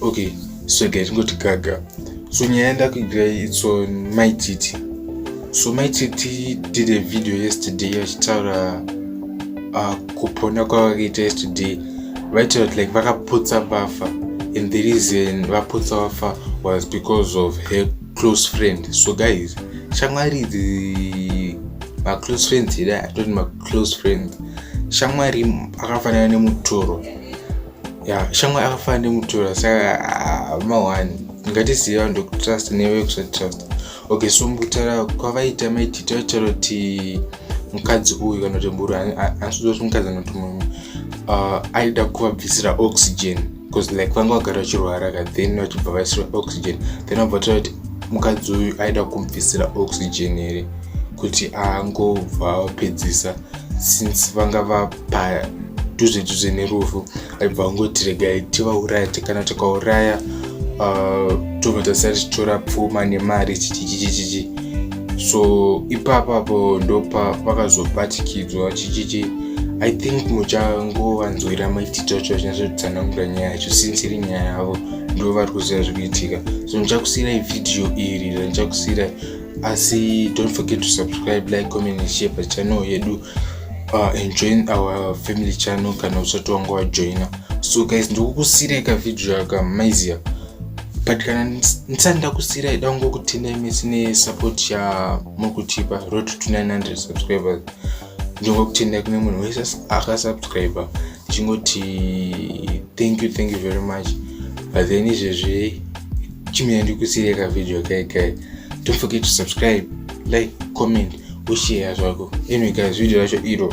okay so guy tingoti gaga so nyaya yandakuigira its on my titi so my titi did a video yesterday vachitaura uh, kupona kwavakaita yesterday vaitaura kuti like vakaputsa bafa and the reason vaputsa bafa was because of her close friend so guys shamwari idzi maclose friends here atoti maclose friends shamwari akafanana nemutoro ya shamwa akafanira nemutora saka ah, mawani ngatizive vanhu vekutrust nevekusatrust okay so mukutaura kwavaita maiti taitaura kuti mukadzi uyu kana kuti mburu anasuza kuti mukadzi anoti mumwe ah, aida kuvabvisira oxygen bcause like vanga vagara vachirwara ka then vachibva vaisira oxygen then vabva taura kuti mukadzi uyu aida kumubvisira oxygen here kuti angobva vapedzisa since vanga va padhuze dhuze nerufu aibva angoti regai tivauraya tikana tikauraya uh, tobva tasara tichitora pfuma nemari chichichichichichi so ipapapo ndopa vakazobatikidzwa chichichi i think muchangovanzwira maitito acho achinyatsotsanangura nyaya yacho since iri nyaya yavo ndo vari kuziva zviri kuitika so ndichakusiirai vhidhiyo iri randichakusiirai asi don't forget to subscribe like comment and share pachannel yedu uh, and join our family channel kana usati wanga wajoina so guys ndikukusirai kavideo yaka maizia but kana ndisati ndakusirai dango kutendai mese nesupport yamuri kutipa road to 900 subscribers ndingo kutendai kune munhu wese akasubscriber ndichingoti thank you thank you very much but then izvezvi chimira ndikusire ka video kai kai don't forget to subscribe like comment ushare zvako anyway guys video racho iro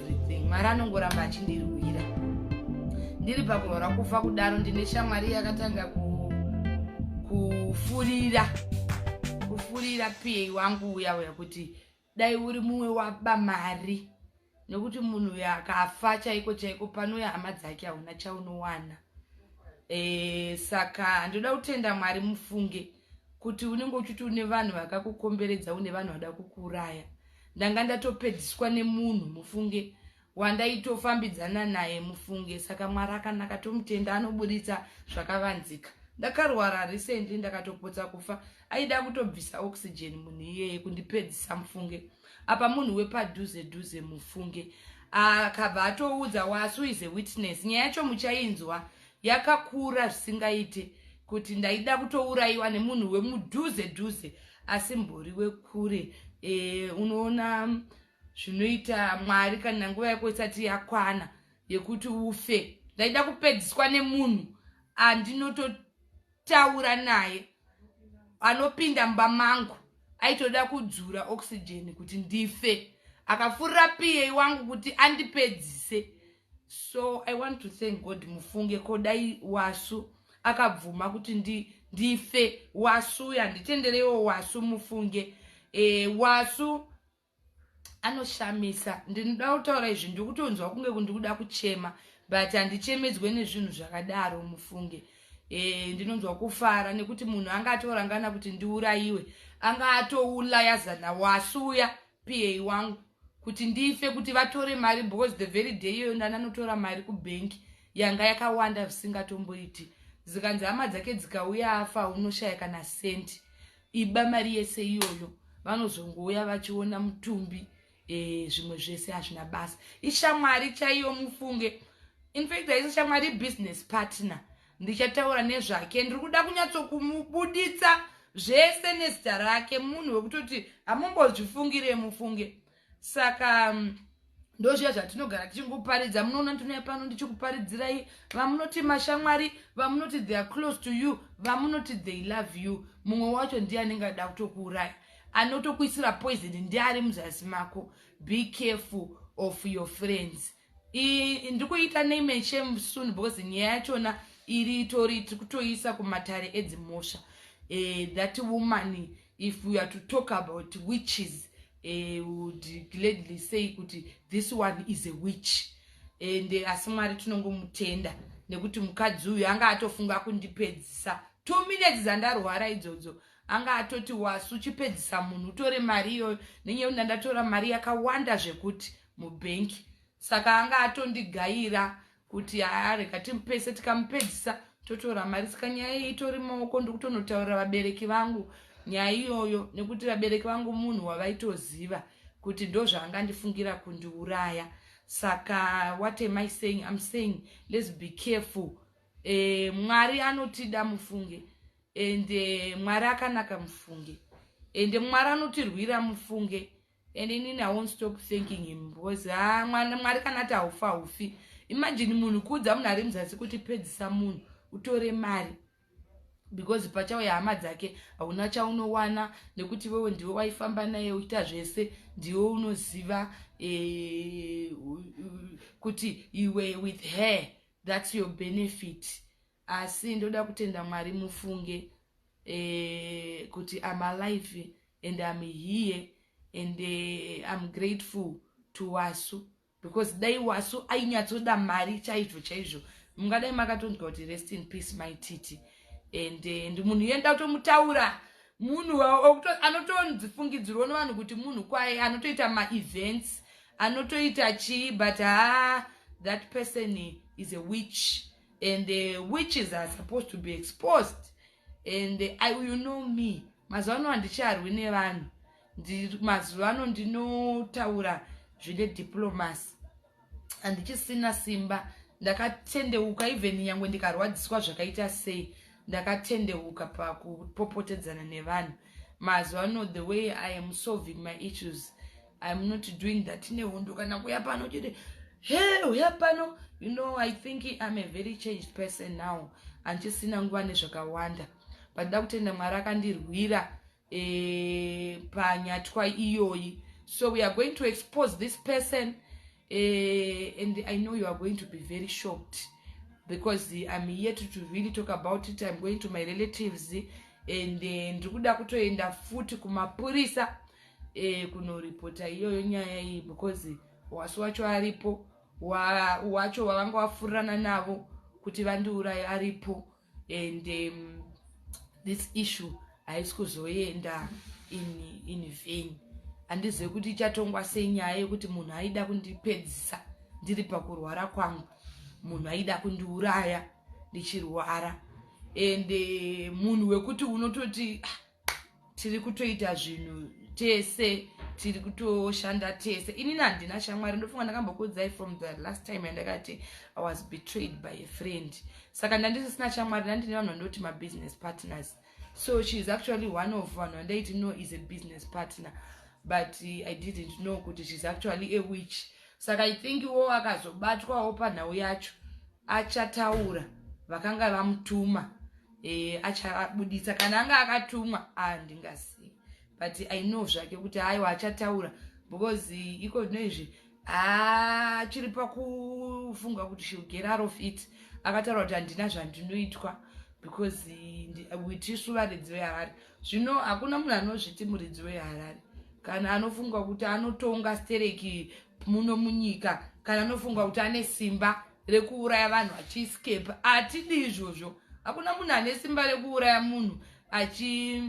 everything mwari anongoramba achindirwira ndiri pakurora kufa kudaro ndine shamwari yakatanga kufurira kufurira piyei wangu uya uya kuti dai uri mumwe waba mari nekuti munhu uyo akafa chaiko chaiko panouya hama dzake hauna chaunowana e, saka ndoda kutenda mwari mufunge kuti unenge uchiti une vanhu vakakukomberedza une vanhu vada kukuuraya ndanga ndatopedziswa nemunhu mufunge wandaitofambidzana naye mufunge saka mwari akanaka tomutenda anoburitsa zvakavanzika ndakarwara recently ndakatopotsa kufa aida kutobvisa oxygen munhu iyeye kundipedzisa mufunge apa munhu wepadhuze dhuze mufunge akabva atoudza wasu is a witness nyaya yacho muchainzwa Yakakura zvisingaite kuti ndaida kutouraiwa nemunhu wemudhuze dhuze asi mbori wekure e, unoona zvinoita mwari kana nguva yako isati yakwana yekuti ufe ndaida kupedziswa nemunhu andinoto taura naye anopinda mba mangu aitoda kudzura oxygen kuti ndife akafurira piyei wangu kuti andipedzise so i want to thank god mufunge kodai wasu akabvuma kuti ndi, ndife wasu yanditendereiwo wasu mufunge e, wasu anoshamisa ndinoda kutaura izvi ndikutonzwa kunge kundikuda kuchema but handichemedzwe nezvinhu zvakadaro mufunge e, ndinonzwa kufara nekuti munhu anga atorangana kuti ndiurayiwe anga atoulaya zana wasuya pa wangu kuti ndife kuti vatore mari because the very day iyoyo ndananotora mari kubhenki yanga yakawanda zvisingatomboiti zikanzi hama dzake dzikauya afa unoshaya kana senti iba mari yese iyoyo vanozongouya vachiona mutumbi eh, zvimwe zvese hazvina basa ishamwari chaiyo mufunge infact haisi shamwari business partner ndichataura nezvake ndiri kuda kunyatsokumubuditsa zvese nezita rake munhu wekutoti hamumbozvifungire mufunge saka ndozviya zvatinogara tichingoparidza munoona ndinouya pano ndichikuparidzirai vamunoti mashamwari vamunoti they are close to you vamunoti they love you mumwe wacho ndiye anenge ada kutokuuraya anotokuisira poison ndiye ari muzasi mako be careful of your friends ndikuita nemechem soon because nyaya yachona iri itori tiri kutoisa kumatare edzimhosva eh, that woman if we are to talk about witches eh, would gladly say kuti this one is a witch and eh, asi mwari tinongomutenda nekuti mukadzi uyu anga atofunga kundipedzisa two minutes dzandarwara idzodzo anga atoti wasu chipedzisa munhu utore mari iyoyo nenyaya kuti ndandatora mari yakawanda zvekuti mubank saka anga atondigaira kuti areka timupese tikamupedzisa totora mari saka nyaya iyi itori maoko ndikutonotaurira vabereki vangu nyaya iyoyo nekuti vabereki vangu munhu wavaitoziva kuti ndozvaanga ndifungira kundiuraya saka what am i saying im saying let's be careful e, mwari anotida mufunge ende eh, mwari akanaka mufunge ende mwari anotirwira mufunge and inini i won't stop thanking him because ah, mwari kana ati haufa haufi imagine munhu kuudza munhu ari muzasi kuti pedzisa munhu utore mari because pachauya hama dzake hauna chaunowana nekuti iwewe ndiwe waifamba naye uchiita zvese ndiwe unoziva e, kuti iwe with her thats your benefit Asi ndoda kutenda Mwari mufunge eh, kuti I'm alive and I'm here and eh, I'm grateful to Wasu because dai Wasu ainyatsoda mari chaizvo chaizvo mungadai makatonzwa kuti rest in peace my titi and eh, ndi munhu yenda kutomutaura munhu anotonzifungidzirwa nevanhu kuti munhu kwaye anotoita maevents anotoita chii but haa that person is a witch and the witches are supposed to be exposed and the, I, you know me mazuva ano handicharwi nevanhu mazuva ano ndinotaura zvine diplomacy handichisina simba ndakatendeuka even nyangwe ndikarwadziswa zvakaita sei ndakatendeuka pakupopotedzana nevanhu mazuva ano the way i am solving my issues I'm not doing that nehondo kana kuya pano chete hey uya pano you know i think i'm a very changed person now handisina nguva nezvakawanda but da kutenda mwari akandirwira e, panyatwa iyoyi so we are going to expose this person uh, and i know you are going to be very shocked because im yet to really talk about it im going to my relatives and eh, ndiri kuda kutoenda futi kumapurisa eh, kunoripota iyoyo nyaya iyi because wasi wacho aripo wacho wavanga wafurirana navo kuti vandiuraye aripo and um, this issue haisi kuzoenda in, in vain handizive kuti ichatongwa senyaya yekuti munhu aida kundipedzisa ndiri pakurwara kwangu munhu aida kundiuraya ndichirwara and uh, munhu wekuti unototi ah, tiri kutoita zvinhu tese tiri kutoshanda tese inini handina shamwari ndofunga ndakambokuudzai from the last time yandakati i was betrayed by a friend saka ndandisisina shamwari ndandine vanhu vandoti mabusiness partners so she is actually one of vanhu vandaiti no is a business partner but i didn't know kuti sheis actually a witch saka i think wo akazobatwawo panhau yacho achataura vakanga vamutuma eh, achabuditsa kana anga akatumwa handingazivi ah, but i know zvake kuti haiwa achataura because iko zvino izvi achiri ah, pakufunga kuti she get out of it akataura kuti handina zvandinoitwa because witisu varidzi veharare zvino hakuna munhu anozviti muridzi weharare kana anofunga kuti anotonga stereki muno munyika kana anofunga kuti ane simba rekuuraya vanhu achiescape atidi izvozvo hakuna munhu ane simba rekuuraya munhu achi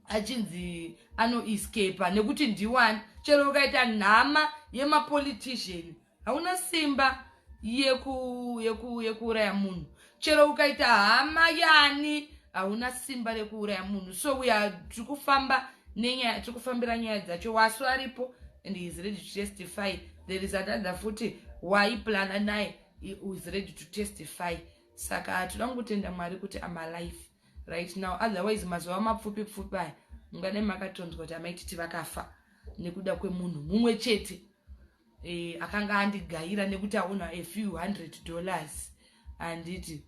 achinzi anoescapa nekuti ndiwani chero ukaita nhama yemapolitician hauna simba yekuuraya munhu chero ukaita hama yani hauna simba rekuuraya munhu so we are tiri kufamba nenyaya tiri kufambira nyaya dzacho wasu aripo and he is ready to testify there is another futi waiplana naye is ready to testify saka hatoda kutenda mwari kuti amalife right now otherwise mazuva mapfupi pfupi aya mungadai makatonzwa kuti amaititi vakafa nekuda kwemunhu mumwe chete eh, akanga andigaira nekuti aona a few hundred dollars handiti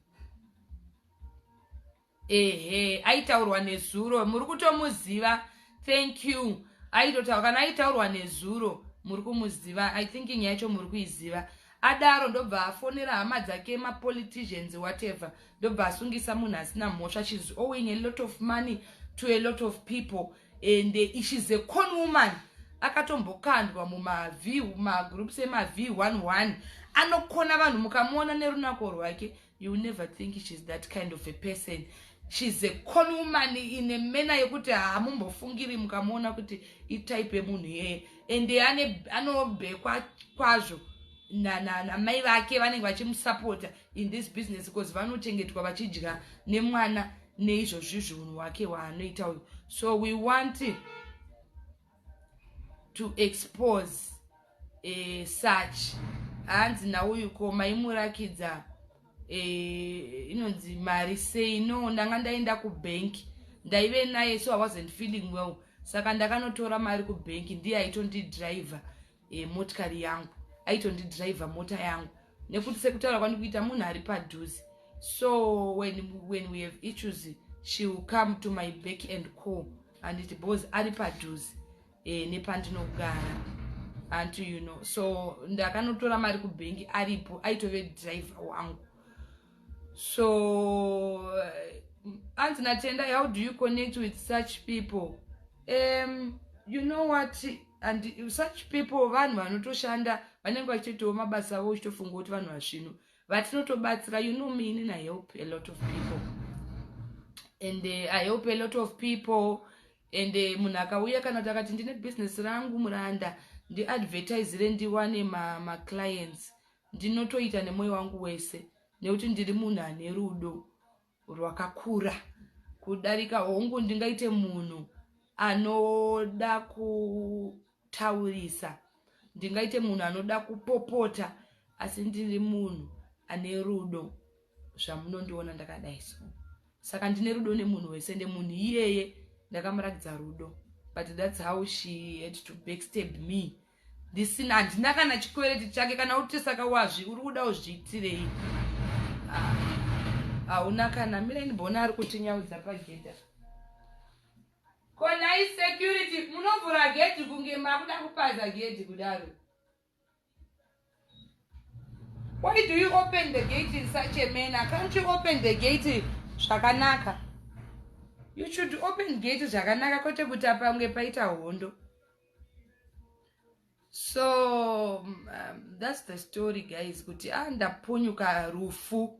ehe aitaurwa nezuro muri kutomuziva thank you aitotaura kana aitaurwa nezuro muri kumuziva i thinking yacho muri kuiziva adaro ndobva afonera hama dzake mapoliticians whatever ndobva asungisa munhu asina mhosva shes owing a lot of money to a lot of people and eh, she's a con woman akatombokandwa mumagroups emav 11 anokona vanhu mukamuona nerunako rwake you will never think she's that kind of a person she's a con woman ine mena yekuti hamumbofungiri mukamuona kuti itype yemunhu iyeye and anobhekwa kwazwo namai vake vanenge vachimusapota in this business because vanochengetwa vachidya nemwana neizvozvi zviunhu hwake hwaanoita uyu so we want to expose eh, such hanzi nauyu ko maimurakidza eh, inonzi mari sei no ndanga ndaenda kubank ndaive naye so i wasn't feeling well saka ndakanotora mari kubank ndiye aitondidriver e, motikari yangu aitondidriver mota yangu nekuti sekutaura kwandikuita munhu ari padhuze so when, when we have issues she will come to my back and call anditi bos ari padhuze e, nepandinogara anti you know so ndakanotora mari kubhengi aripo aitove driver wangu so anzi natenda how do you connect with such people um, you know what and such people vanhu vanotoshanda vanenge vachitoitawo mabasa avo uchitofunga kuti vanhu vasvino vatinotobatsira you know me inini i help a lot of people and uh, i help a lot of people and uh, munhu akauya kana kuti akati ndine business rangu muranda ndiadvertisire ndiwane maclients ma Ndinotoita nemoyo wangu wese nekuti ndiri munhu ane rudo rwakakura kudarika hongu ndingaite munhu anoda kutaurisa ndingaite munhu anoda kupopota asi ndiri munhu ane rudo zvamunondiona ndakadai so saka ndine rudo nemunhu wese ende munhu iyeye ndakamuratidza rudo but thats how she had to backstab me ndisina handina kana chikwereti chake kana uti saka wazvi uri kuda uzviitirei ah, hauna kana mire ndibona ari kutinyaudza pagedha konai security munovhura gedhi kunge makuda kupaza gedhi kudaro Why do you open the gate in such a manner? Can't you open the gate zvakanaka? You should open gate zvakanaka kwete kuti apange paita hondo. So um, that's the story guys kuti ah ndapunyuka rufu.